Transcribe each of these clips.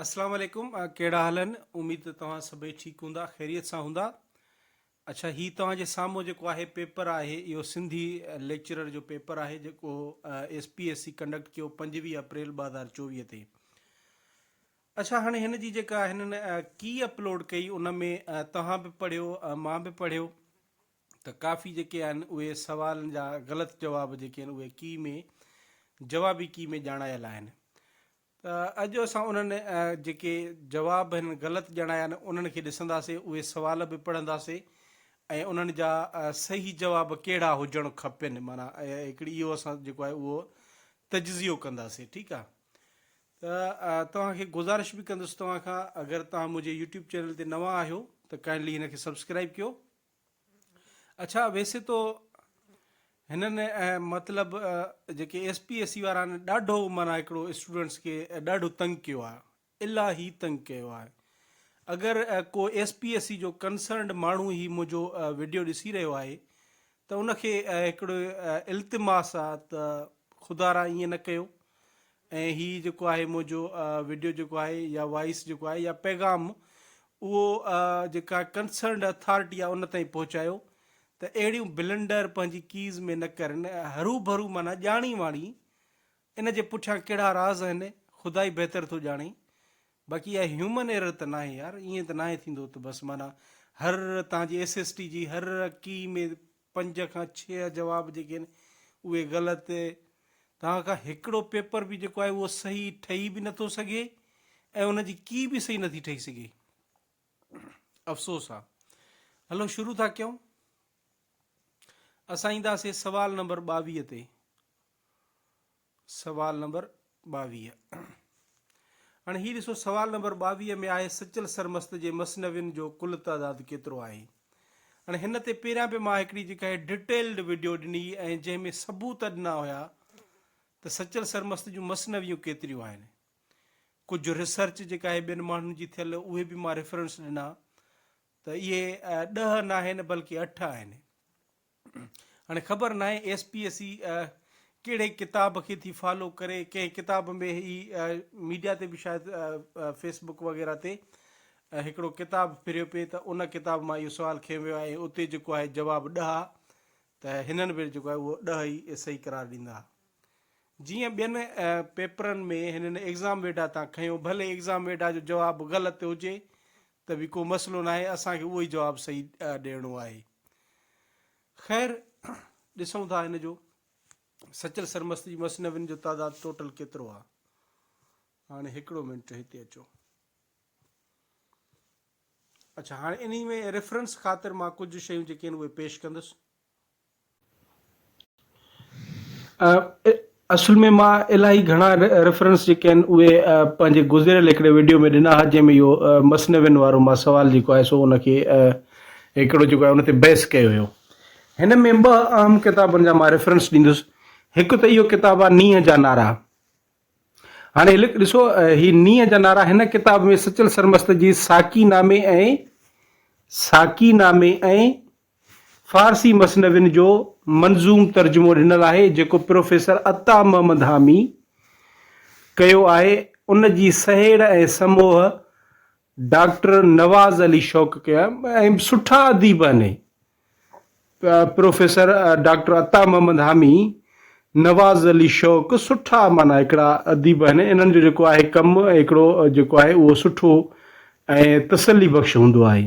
اسلام عليڪم ڪهڙا حال آهن اميد ته توهان سڀئي ٺيڪ هوندا خيريت سان هوندا اڇا هي توهان جي سامهون جيڪو آهي پيپر آهي اهو سنڌي ليڪچرر جو پيپر آهي جيڪو S P S C conduct ڪيو پنجويهه اپريل ٻه هزار چوويهه تي اڇا هاڻي هن جي جيڪا هنن ڪي اپلوڊ ڪئي ان ۾ توهان به پڙهيو مان به پڙهيو ته ڪافي جيڪي آهن اهي سوالن جا غلط جواب جيڪي آهن اهي ڪي ۾ جوابي ڪي ۾ ڄاڻايل آهن ته اڄ اسان انهن جيڪي جواب هن غلط ڄاڻايا آهن انهن کي ڏسنداسين اهي سوال به پڙهنداسين ۽ انهن جا صحيح جواب ڪهڙا هجڻ کپن معنيٰ هڪڙي اهو اسان جيڪو آهي اهو تجزيو ڪنداسين ٺيڪ آهي ته توهان کي گذارش به ڪندس توهان کان اگر توهان منهنجي يوٽيوب چينل تي نوان آهيو ته ڪائنڊلي هن کي سبسڪرائب ڪيو اڇا ويسي تو هنن مطلب جيڪي ايس پي ايس سي وارا آهن ڏاڍو معنيٰ هڪڙو اسٽوڊنٽس کي ڏاڍو تنگ ڪيو آهي الاهي تنگ ڪيو آهي اگر ڪو ايس پي ايس سي جو ڪنسرنڊ ماڻهو هي منهنجو ويڊيو ڏسي رهيو آهي ته ان کي هڪڙو التماس آهي ته خدا را ائين نه ڪيو ۽ هي جيڪو آهي منهنجو وڊيو جيڪو آهي يا وائيس جيڪو آهي يا پيغام اهو جيڪا ڪنسرنڊ اٿارٽي آهي ان تائين پهچايو ته اهڙيون بلنڊر پنهنجي ڪيز ۾ نه ڪرن هروڀرو معنيٰ ڄاڻي واڻي ان جي پٺيان ڪهڙا راز آهن خدا ئي بهتر ٿو ڄاڻي باقي اها هيومن ايرر ته ناهي يار ائين ته ناهي ٿيندو ته بس معنيٰ هر تان جي ايس ايس ٽي جي هر ڪي ۾ پنج کان ڇهه جواب جيڪي آهن اهي غلط توهان کان هڪڙو پيپر به جيڪو آهي اهو صحيح ٺهي به نٿو سگهي ۽ ان جي ڪي به صحيح نٿي ٺهي سگهي افسوس آ هلو شروع ٿا ڪيون اسان اينداسي سوال نمبر ٻاويهه تي سوال نمبر ٻاويهه هاڻي هي ڏسو سوال نمبر ٻاويهه ۾ آهي سچل سرمست جي مثنوين جو ڪل تعداد ڪيترو آهي هاڻي هن تي پهريان به مان هڪڙي جيڪا هي ڊيٽيلڊ وڊيو ڏني ۽ جنهن ۾ ثبوت ڏنا هيا ته سچل سرمست جون مثنويون ڪيتريون آهن ڪجهه ريسرچ جيڪا هي ٻين ماڻهن جي ٿيل اهي به مان ريفرنس ڏنا ته اهي ڏهه ناهن بلڪه اٺ آهن هاڻي خبر ناهي ايس پي ايس اي ڪهڙي ڪتاب کي ٿي فالو ڪري ڪنهن ڪتاب ۾ هي ميڊيا تي به شايد فيس بڪ وغيره تي هڪڙو ڪتاب ڦريو پئي ته ان ڪتاب مان اهو سوال کنيو ويو آهي اتي جيڪو آهي جواب ڏهه آهي ته هنن به جيڪو آهي اهو ڏهه ئي صحيح قرار ڏيندا جيئن ٻين پيپرن ۾ هنن ايگزام ويڊا تان کنيو ڀلي ايگزام ويڊا جو جواب غلط هجي ته به ڪو مسئلو ناهي، اسان کي اهو ئي جواب صحيح ڏيڻو آهي. خير، ڏسون ٿا هن جو سچل سرمست جي مثنوين جو تعداد ٽوٽل ڪيترو آهي. هاڻي هڪڙو منٽ هتي اچو. اڇا هاڻي انهي ۾ ريفرنس خاطر مان ڪجهه شيون جيڪي آهن اهي پيش ڪندس. اصل ۾ مان الاهي گهڻا ريفرنس جيڪي آهن اهي پنهنجي گذريل هڪڙي وڊيو ۾ ڏنا ها جنهن ۾ اهو مثنوين وارو مان سوال جيڪو آهي سو ان کي هڪڙو جيڪو آهي ان تي بحث ڪيو هيو هن ۾ ٻه اهم ڪتابن جا مان ريفرنس ڏيندس هڪ ته اهو ڪتاب آهي نينهن جا نعرا هاڻي ڏسو هي نينهن جا نعرا هن ڪتاب ۾ سچل سرمست جي ساقي نامي ۽ ساقي نامي ۽ فارسي مثنوين جو منظوم ترجمو ڏنل آهي، جيڪو پروفيسر عطا محمد حامي ڪيو آهي. ان جي سهيڙ ۽ سموهه ڊاڪٽر نواز علي شوق ڪيو آهي ۽ سٺا اديب آهن. پروفيسر ڊاڪٽر عطا محمد حامي، نواز علي شوق سٺا معنيٰ هڪڙا اديب آهن. انهن جو جيڪو آهي ڪم هڪڙو جيڪو آهي اهو سٺو ۽ تسلي بخش هوندو آهي.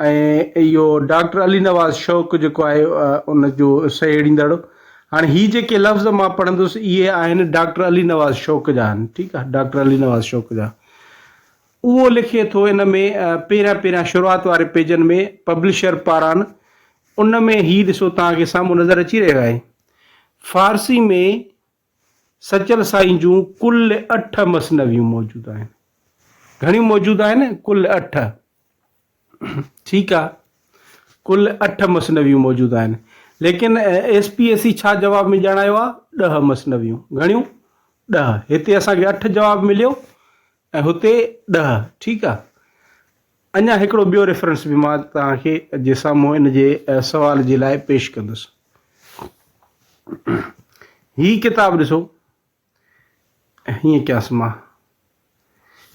۽ اهو ڊاڪٽر علي نواز شوق جيڪو آهي ان جو سهيڙيندڙ هاڻي هي جيڪي لفظ مان پڙهندس اهي آهن ڊاڪٽر علي نواز شوق جا آهن ٺيڪ آهي ڊاڪٽر علي نواز شوق جا اهو لکي ٿو ان ۾ پهريان پهريان شروعات واري پيجن ۾ پبلشر پاران ان ۾ هي ڏسو توهان کي سامهون نظر اچي رهيو آهي فارسي ۾ سچل سائين جون ڪل اٺ مثنويون موجود آهن. گهڻيون موجود آهن؟ ڪل اٺ. ٺيڪ آ. ڪل اٺ مثنويون موجود آهن. ليڪن ايس پي ايس سي ڇا جواب ۾ ڄاڻايو آ؟ ڏهه مثنويون. گهڻيون؟ ڏهه. هتي اسان کي اٺ جواب مليو ۽ هتي ڏهه. ٺيڪ آ. اڃا هڪڙو ٻيو ريفرنس به مان توهان کي جي سامهون ان جي سوال جي لاء پيش ڪندس. هي ڪتاب ڏسو. هيئن ڪيانس مان.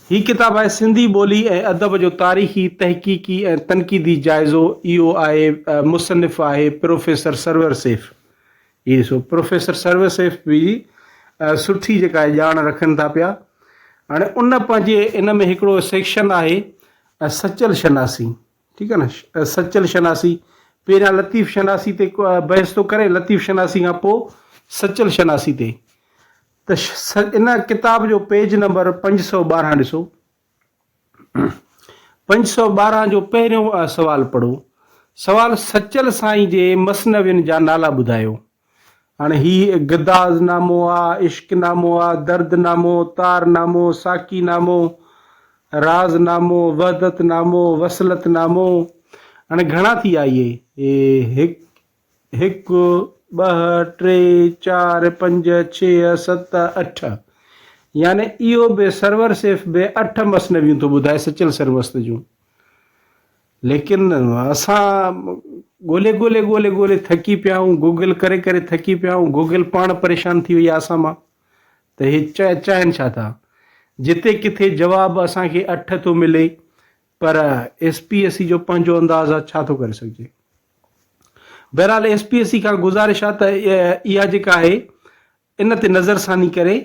هي ڪتاب آهي سنڌي ٻولي ۽ ادب جو تاريخي، تحقيقي ۽ تنقيدي جائزو اهو آهي مصنف آهي پروفيسر سرور سيف اهي سو پروفيسر سروي سيف به سٺي جيڪا آهي ڄاڻ رکن ٿا پيا. هاڻي ان پنهنجي ان ۾ هڪڙو سيڪشن آهي سچل شناسي ٺيڪ آهي نه سچل شناسي پهريان لطيف شناسي تي بحث ٿو ڪري لطيف شناسي کان پوء سچل شناسي تي ته ان ڪتاب جو پيج نمبر پنج سؤ ٻارهن ڏسو پنج سؤ ٻارهن جو پهريون سوال پڙهو. سوال سچل سائين جي مثنوين جا نالا ٻڌايو. هاڻي هي گداز نامو آ، عشق نامو آ، درد نامو، تار نامو، ساقي نامو، راز نامو، وحدت نامو، وصلت نامو، هاڻي گهڻا ٿي آ اهي؟ هڪ هڪ، ٻه، ٽي، چار، پنج، ڇهه، ست، اٺ يعني اهو به سرور صرف به اٺ مثنويون ٿو ٻڌائي سچل سرمست جون. ليڪن اسان ڳولي ڳولي ڳولي ڳولي ٿڪي پيا آهيون گوگل ڪري ڪري ٿڪي پيا آهيون گوگل پاڻ پريشان ٿي وئي آهي اسان مان ته هي چاهين ڇا ٿا جتي ڪٿي جواب اسان کي اٺ ٿو ملي پر ايس پي اي سي جو پنهنجو انداز آ ڇا ٿو ڪري سگهجي. بهرحال ايس پي اي سي کان گذارش آ ته اها جيڪا آهي ان تي نظر ثاني ڪري.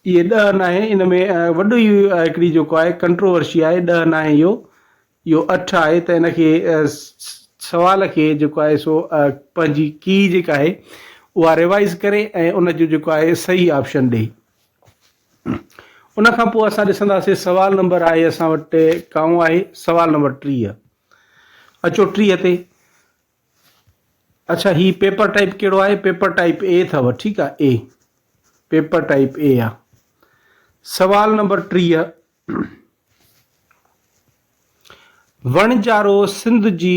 اهي ڏهه ناهي ان ۾ وڏو ئي هڪڙي جيڪو آهي ڪنٽروورشي آهي ڏهه ناهي اهو اهو اٺ آهي ته ان کي سوال کي جيڪو آهي سو پنهنجي ڪي جيڪا آهي اها ريوائز ڪري ۽ ان جو جيڪو آهي صحيح آپشن ڏئي. ان کان پوء اسان ڏسنداسين سوال نمبر آهي اسان وٽ ڪائون آهي سوال نمبر ٽيهه اچو ٽيهه تي اچھا هي پيپر ٽائپ کيڙو آهي پيپر ٽائپ اي اٿو ٺيڪ آهي اي پيپر ٽائپ اي آ سوال نمبر ٽيهه وڻجارو سنڌ جي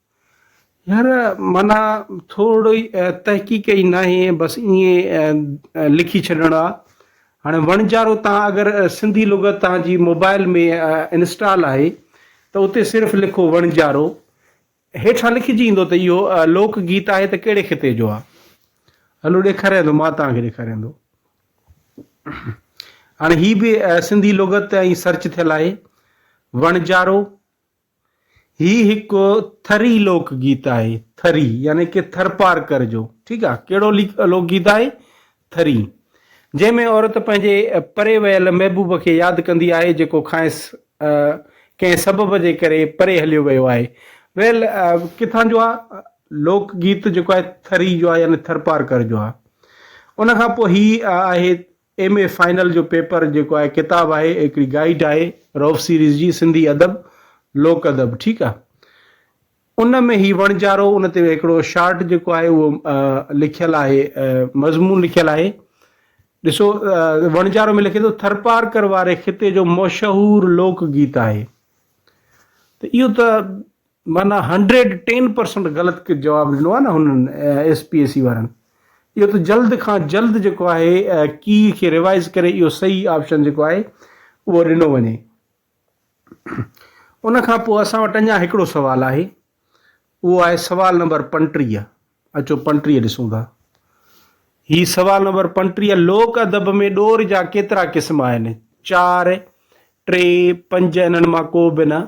هينئر معنيٰ ٿورڙي تحقيق ئي ناهي بس ائين لکي ڇڏڻ آ. هاڻي وڻجارو تان اگر سنڌي لغت تان جي موبائل ۾ انسٽال آهي ته اتي صرف لکو وڻجارو هيٺان لکجي ايندو ته اهو لوڪ گيت آهي ته ڪهڙي خطي جو آ هلو ڏيکاريان ٿو مان تان کي ڏيکاريان ٿو هاڻي هي به سنڌي لغت تان ئي سرچ ٿيل آهي وڻجارو هي هڪ ٿري لوڪ گيت آهي، ٿري يعني ڪي ٿرپارڪر جو ٺيڪ آهي ڪهڙو لوڪ گيت آهي ٿري جنهن ۾ عورت پنهنجي پري ويل محبوب کي ياد ڪندي آهي جيڪو کانئس ڪنهن سبب جي ڪري پري هليو ويو آهي ويل ڪٿان جو آهي لوڪ گيت جيڪو آهي ٿري جو آهي يعني ٿرپارڪر جو آهي ان کان پوء هي آهي ايم اي فائنل جو پيپر جيڪو آهي ڪتاب آهي هڪڙي گائيڊ آهي رئوف سيريز جي سنڌي ادب لوڪ ادب ٺيڪ آ ان ۾ هي وڻجارو ان تي هڪڙو شارٽ جيڪو آهي اهو لکيل آهي مضمون لکيل آهي ڏسو وڻجارو ۾ لکي ٿو ٿرپارڪر واري خطي جو مشهور لوڪ گيت آهي ته اهو ته معنيٰ هنڊريڊ ٽين پرسنٽ غلط جواب ڏنو آهي نه هنن ايس پي اي سي وارن اهو ته جلد کان جلد جيڪو آهي ڪي کي ريوائز ڪري اهو صحيح آپشن جيڪو آهي اهو ڏنو وڃي ان کان پوء اسان وٽ اڃا هڪڙو سوال آهي اهو آهي سوال نمبر پنٽيهه اچو پنٽيهه ڏسون ٿا هي سوال نمبر پنٽيهه لوڪ ادب ۾ ڏور جا ڪيترا قسم آهن چار ٽي پنج انهن مان ڪو به نه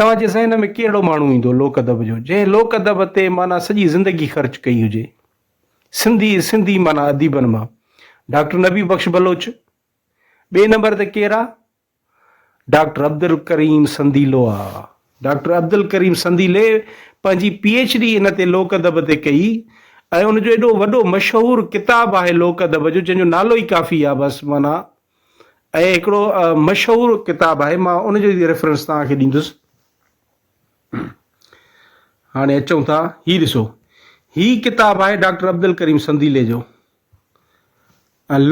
توهان جي ذهن ۾ ڪهڙو ماڻهو ايندو لوڪ ادب جو جنهن لوڪ ادب تي معنيٰ سڄي زندگي خرچ ڪئي هجي. سنڌي سنڌي معنيٰ اديبن مان ڊاڪٽر نبي بخش بلوچ ٻئي نمبر تي ڪير آ؟ ڊاڪٽر عبدالڪريم سنديلو آ. ڊاڪٽر عبدالڪريم سنديلي پنهنجي پي ايڇ ڊي ان تي لوڪ ادب تي ڪئي ۽ ان جو ايڏو وڏو مشهور ڪتاب آهي لوڪ ادب جو جنهن جو نالو ئي ڪافي آ بس معنيٰ ۽ هڪڙو مشهور ڪتاب آهي مان ان جو به ريفرنس توهان کي ڏيندس هاڻي اچون ٿا هي ڏسو هي ڪتاب آهي ڊاڪٽر عبدالڪريم سنديلي جو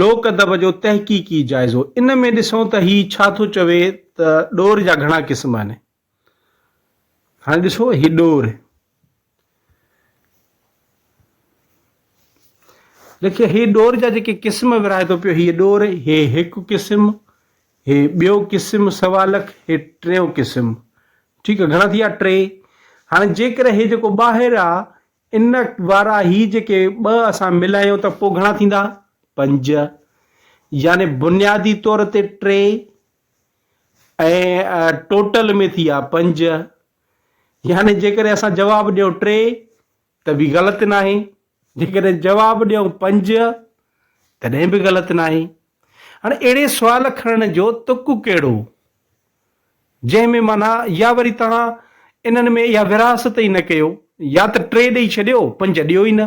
لوڪ ادب جو تحقيقي جائزو ان ۾ ڏسون ته هي ڇا ٿو چوي ته ڏور جا گهڻا قسم آهن هاڻي ڏسو هي ڏور لکي هي ڏور جا جيڪي قسم ورائي ٿو پيو هي ڏور هي هڪ قسم هي ٻيو قسم سوا لک هي ٽيون قسم ٺيڪ آ گهڻا ٿي ويا ٽي هاڻي جيڪر هي جيڪو ٻاهر آ ان وارا هي جيڪي ٻه اسان ملايو ته پوء گهڻا ٿيندا پنج يعني بنيادي طور تي ٽي ۽ ٽوٽل ۾ ٿي ها پنج. يعني جيڪڏهن اسان جواب ڏيون ٽي ته به غلط ناهي، جيڪڏهن جواب ڏيون پنج تڏهن به غلط ناهي. هاڻي اهڙي سوال کڻڻ جو تڪ ڪهڙو؟ جنهن ۾ معنيٰ يا وري توهان انهن ۾ اها ورهاست ئي نه ڪيو يا ته ٽي ڏئي ڇڏيو پنج ڏيو ئي نه.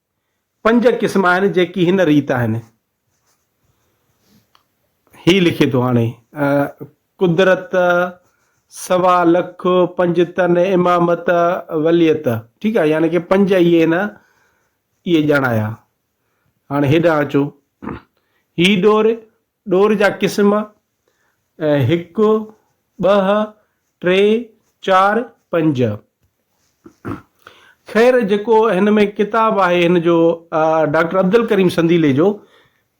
پنج قسم آهن جيڪي هن ريت آهن. هي لکي ٿو هاڻي قدرت سوا لک پنج تن امامت وليت ٺيڪ آهي يعني ڪي پنج اي هن اي ڄاڻايا هاڻي هيڏا اچو هي ڏور ڏور جا قسم، هڪ، ٻه، ٽي، چار، پنج. خير جيڪو هن ۾ ڪتاب آهي هن جو ڊاڪٽر عبدالڪريم سنديلي جو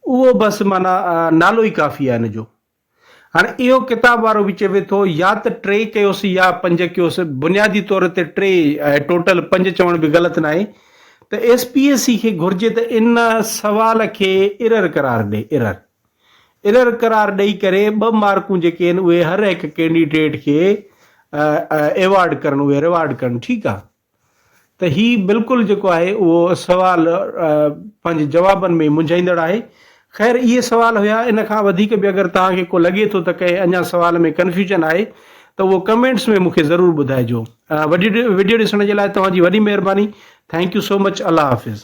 اهو بس معنيٰ نالو ئي ڪافي آهي هن جو. هاڻي اهو ڪتاب وارو به چوي ٿو يا ته ٽي ڪيوس يا پنج ڪيوس، بنيادي طور تي ٽي آهي ٽوٽل پنج چوڻ به غلط ناهي. ته ايس پي اي سي کي گهرجي ته ان سوال کي ايرر قرار ڏئي ايرر ايرر قرار ڏئي ڪري ٻه مارڪون جيڪي آهن اهي هر هڪ ڪينڊيڊيٽ کي ايوارڊ ڪرڻ اهي ريوارڊ ڪرڻ ٺيڪ آهي ته هي بلڪل جيڪو آهي اهو سوال پنهنجي جوابن ۾ منجهائيندڙ آهي خير اهي سوال هيا ان کان وڌيڪ به اگر توهان کي ڪو لڳي ٿو ته ڪنهن اڃا سوال ۾ ڪنفيوجن آهي ته اهو ڪمينٽس ۾ مونکي ضرور ٻڌائجو وڊيو ڏسڻ جي لاء توهان جي وڏي مهرباني ٿينڪ يو سو مچ الله حافظ.